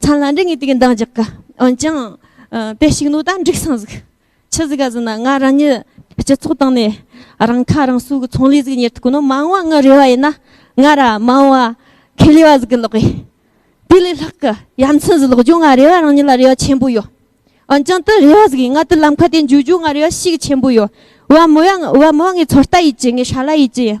ཚང་ལ་འདྲི་ངེས་དུས་ཀྱི་འདང་རྒྱག་གི། འོན་ཀྱང། དེ་ཞིག་ནོར་དང་འགྲིག་སང་གཟིགས། ཆི་ཟིག་ག་ཟིག་ན་ང་རང་ཉིད་སྤྱི་ཚོགས་སྟེང་ནས་རང་ཁ་རང་གསོ་གི་ཚོང་ལས་ཟིག་གཉེར་ཐུབ་ཀྱི་ནོར་མང་བ་ངའི་རེ་བ་ཡིན་ན། ང་ར་མང་བ་ཁེ་ལས་བ་ཟིག་གི་ལག་གི། དེ་ལས་ལྷག་གི་ཡ་མཚན་ཟིག་ལོག་རྒྱུ་ང་རེ་བ་རང་ཉིད་ལ་རེ་བ་ཆེན་པོ་ཡོད། འོན་ཀྱང་དེ་རེ་བ་ཟིག་གིས་ང་དེ་ལམ་ཁ་དེ་འཇུག་རྒྱུ་ང་རེ་བ་ཤིག་གི་ཆེན་པོ་ཡོད། བ་མོ་བ་མོ་ངའི་ཚོད་ལྟ་ཡིད་ཀྱི་ངའི་ཧྲ་ལ་ཡིད་ཀྱི་ཡིན།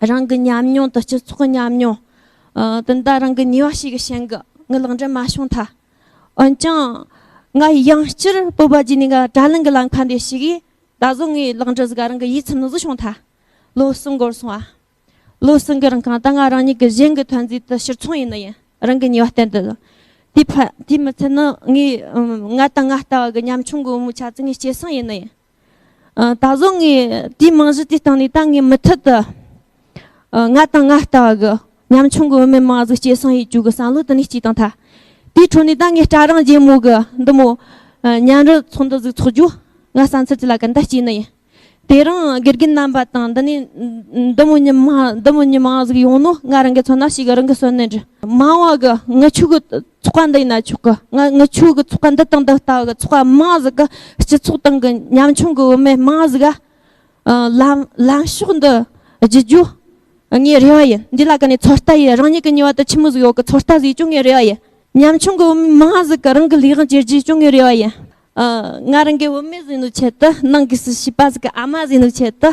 རང་གི་ཉམས་མྱོང་དང་སྤྱི་ཚོགས་ཉམས་མྱོང་དང་འདྲ་རང་གི་ཉེ་བ་ཞིག་གི་ཞེན་གི་ངའི་ལག་འབྲེལ་མ་བྱུང་མཐའ། འོན་ཀྱང། ང་ཡི་ཡང་སྤྱིར་བོད་པ་བརྒྱུད་ནས་ང་དྲ་ལམ་གྱི་ལམ་ཁ་འདི་ཞིག་གིས་ད་གཟོད་ངའི་ལག་འབྲེལ་ཟིག་རང་གི་ཡིད་ཚིམ་ནུས་སུ་བྱུང་མཐའ། ལོ་གསུམ་འགོར་སོང་བ། ལོ་གསུམ་གྱི་རིང་གང་ལྟར་ང་རང་ཉིད་ཀྱི་གཞན་གྱི་ཐོན་རྫས་དང་ཕྱིར་ཚོང་ཡིན་ན་ཡིན་རང་གི་ཉེ་བ་བསྟེན་དུ། དེའི་ཕ་དེའི་མི་ཚེ་ནི་ངའི་ང་དང་ང་ལྟ་བ་གི་ཉམ་ཆུང་གི་བུ་མོའི་ཆ་ཚང་གི་སྐྱེ་སྲིང་ཡིན་ན་ཡིན། ད་གཟོད་ངས་དེའི་རྨང་གཞི་དེ་བཏང་ནས་ད་ངས་མུ་མཐུད་དུ་ང་དང་ང་ལྟ་བ་གི་ཉམ་ཆུང་གི་བུད་མེད་མང་གཟུགས་སྐྱེད་སྲིང་ཡིག་རྒྱུགས་ཀྱི་བསམ་བློ་དེ་ནས་སྐྱེས་དང་ཐ་དེའི་ཁྲོད་ནས་ད་ངས་སྐྲ་རང་རྗེས་མོ་གི་འདི་མོ་གཉན་རི་ཚོ་འདི་ཟིག་འཚོགས་རྒྱུ་ང་བསམ་ཚུལ་དེ་ལ་ག་འདྲ་སྐྱེས་ནི་ཡིན་དེ་རིང་དགེ་རྒན་རྣམ་པ་དང་འདི་ནས་འདི་མོ་གཉིས་མང་གཟུགས་ཡོང་ནོ་ང་རང་གི་ཚོ་ན་ཞིག་གི་རང་གི་གསོན་ནི་འདྲི་མང་བ་གི་ངི་ཆོས་གི་ཚོགས་པ་འདི་ཡིན་ན་ཆོག་གི་ང་ངི་ཆོས་གི་ཚོགས་པ་འདི་དང་འདི་ལྟ་བུ་གི་ཚོགས་པ་མང་ཟིག་གི་སྤྱི་ཚོགས་སྟེང་གི་ཉམ་ཆུང་གི་བུད་མེད་མང་ཟིག་ག་ལམ་ལམ་ཕྱོགས་འདི་བརྗེ་རྒྱུ་ངའི་རེ་བ་ཡིན་འདི་ལ་ག་ནས་ཚོད་ལྟ་ཡིན་རང་ཉིད་ཀྱི་ཉེ་བར་དུ་ཁྱི་མོ་ཟིག་ཡོད་གི་ཚོད་ལྟ་ཟིག་ཅུང་ངའི་རེ་བ་ཡིན་ཉམ་ཆུང་གི་བུད་མེད་མང་ཟིག་གི་རང་གི་ལས་དབང་བྱེད་རྒྱུ་ཅུང་ངའི་རེ་བ་ཡིན་ང་རང་གི་བུད་མེད་ཟིག་ནི་ཆེད་དུ་ནང་གི་སུ་བྱིས་པ་ཟིག་གི་ཨ་མ་ཟིག་ནི་ཆེད་དུ།